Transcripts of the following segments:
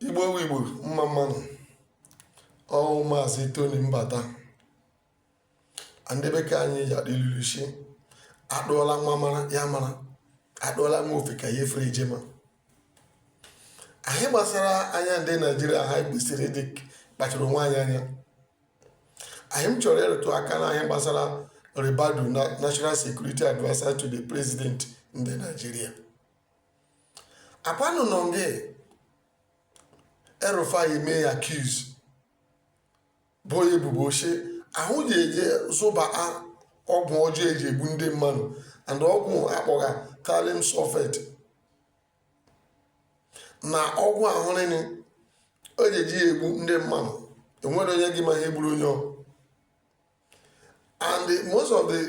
igbo igbo mma mma nụ ọ wụ maazị tony mbata ndị bekee anyị ji adị luluchi adụọla nwa mara ya mara adụọla nwa ofeke ya efere jema ihe gbasara anya ndị naijiria ha kwesịrị ịdị kpachara onwe anyị anya ihe m chọrọ ịrụtụ aka na ihe gbasara ribadu national security adviser to the president ndị naijiria akwanụ nọ nga el-rufai mee ya accuse bo ya ebubo shi ya hụ ji eje zụba ọgwụ ọjọọ eji egbu ndị mmadụ and ọgwụ a kpọga thallium sulphate na ọgwụ ahụ nile o ji eji ya egbu ndị mmadụ enwere onye gị ma ihe gburu onye ọ and most of the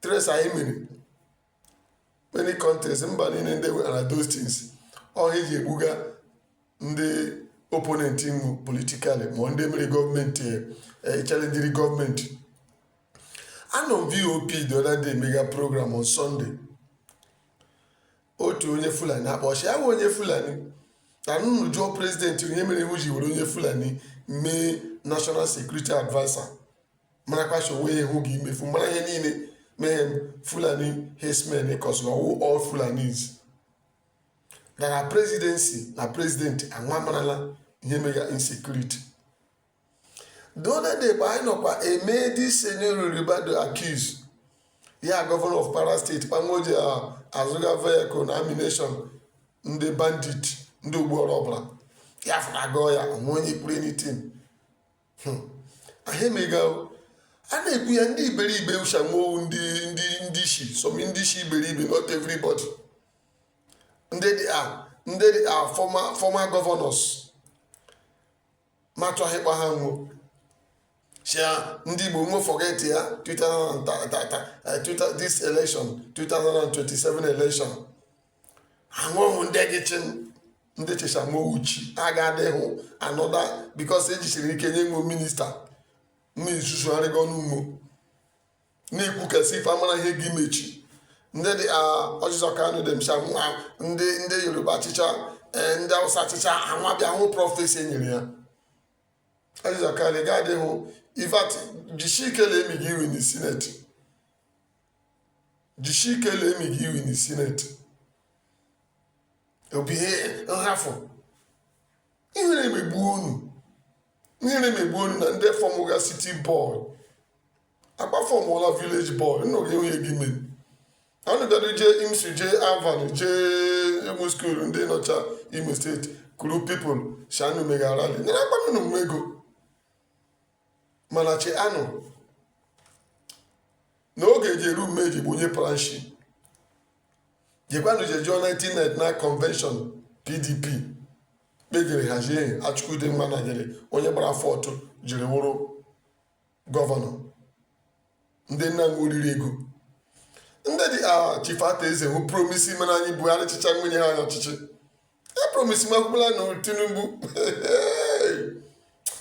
trace anyị mere many countries mba niile ndị nwere those things ọ ihe eji egbuga ndị opponent nwu politically ma ndị mere gọọmenti chalenjiri gọọmenti anọ m vop the other day mega program on sunday otu onye fulani akpọ shi ya wụ onye fulani na unu jụọ president onye mere iwu ji were onye fulani mee national security adviser marakwacha onwe ya hụ gị imefu mara ihe niile mee fulani herdsmen kọsịrị ọ wụ all fulanis na na presidency na president anwa marala ihe mega insecurity the other day bụ anyị nọkwa eme this nuhu ribadu accuse ya governor of kwara state kpamoji azụga vehicle na ammunition ndị bandit ndị ogbuọrụ ọbụla ya fụrụ agụọ ya onwe onye kwuru anything hmm. ihe mega a na-ekwu ya ndị iberibe ushamowu ndị ndị ndị isi some ndị isi iberibe not everybody ndị dị a ndị dị a former former governors matụ ahịkpa ha nwụọ shia ndị igbo nwe forget ya 2000 eh, this election 2027 election a wụhụ ndị gị chịm ndị chịchamochi agadịhụ another because ejisiri ike nye nwe minister na-esusugharịgo n'ugbo na-ekwukasị ife amara ihe gị me echi ndị dị orji uzor kalu dem cha nwa ndị ndị yoruba achịcha e, ndị awụsa achịcha anwa bịa hụ prophecy enyere ya orji uzor kalu ga-adịhụ ife jisi ike na-emi gị iwe na senate jisie ike lee imi gị iwin na sineti obi ihe nhafụ ihere emegbu unu ihere emegbu unu na ndị fọmụga city boy akpa fọmụla village boy nna oge enweghị gị mere anụ bịado jee imsu jee alvan jee ụmụ skuul ndị nọcha imo steeti kuru pipụl shanụ mega rally nyere akpanụ na ego mana cheenụ na oge ji eru ume ji bụ onye planshi jekwanụ je jụọ 1999 na convention pdp kpa e jiri hazie achike udenwa na jiri onye gbara fourth jiri wụrụ gọvanọ ndị nna unu oriri ego ndị dị ka chief arthur eze ahụ promisi mere anyị buhari chịchaa nwunye ha anya ọchịchị e promisi makwụla na tinubu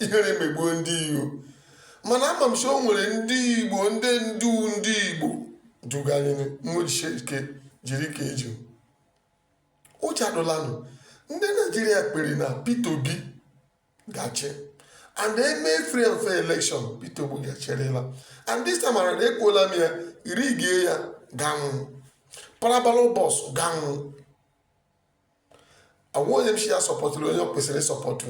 ihere emegbuo ndị igbo mana ama m si o nwere ndị igbo ndị ndu ndị igbo duganyere unu jisie ike jiri ka eji ụjọ adụlanụ ndị naijiria kpere na peter obi ga-achị and e mee free and fair election Peter Obi ga-achịrịla and this time around ekwuola m ya rigie ya ga-anwụ para ballot box ga-anwụ agwa onye m si ya sọpọtụrụ onye o kwesịrị ịsọpọtụ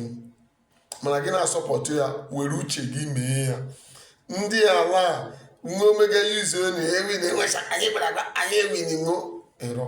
mana gị na-asọpọtụ ya were uche gị mee ya ndị ala nwa omega yuzu onu ewin enwecha anyị gbara anyị ewin ṅụ ịrọ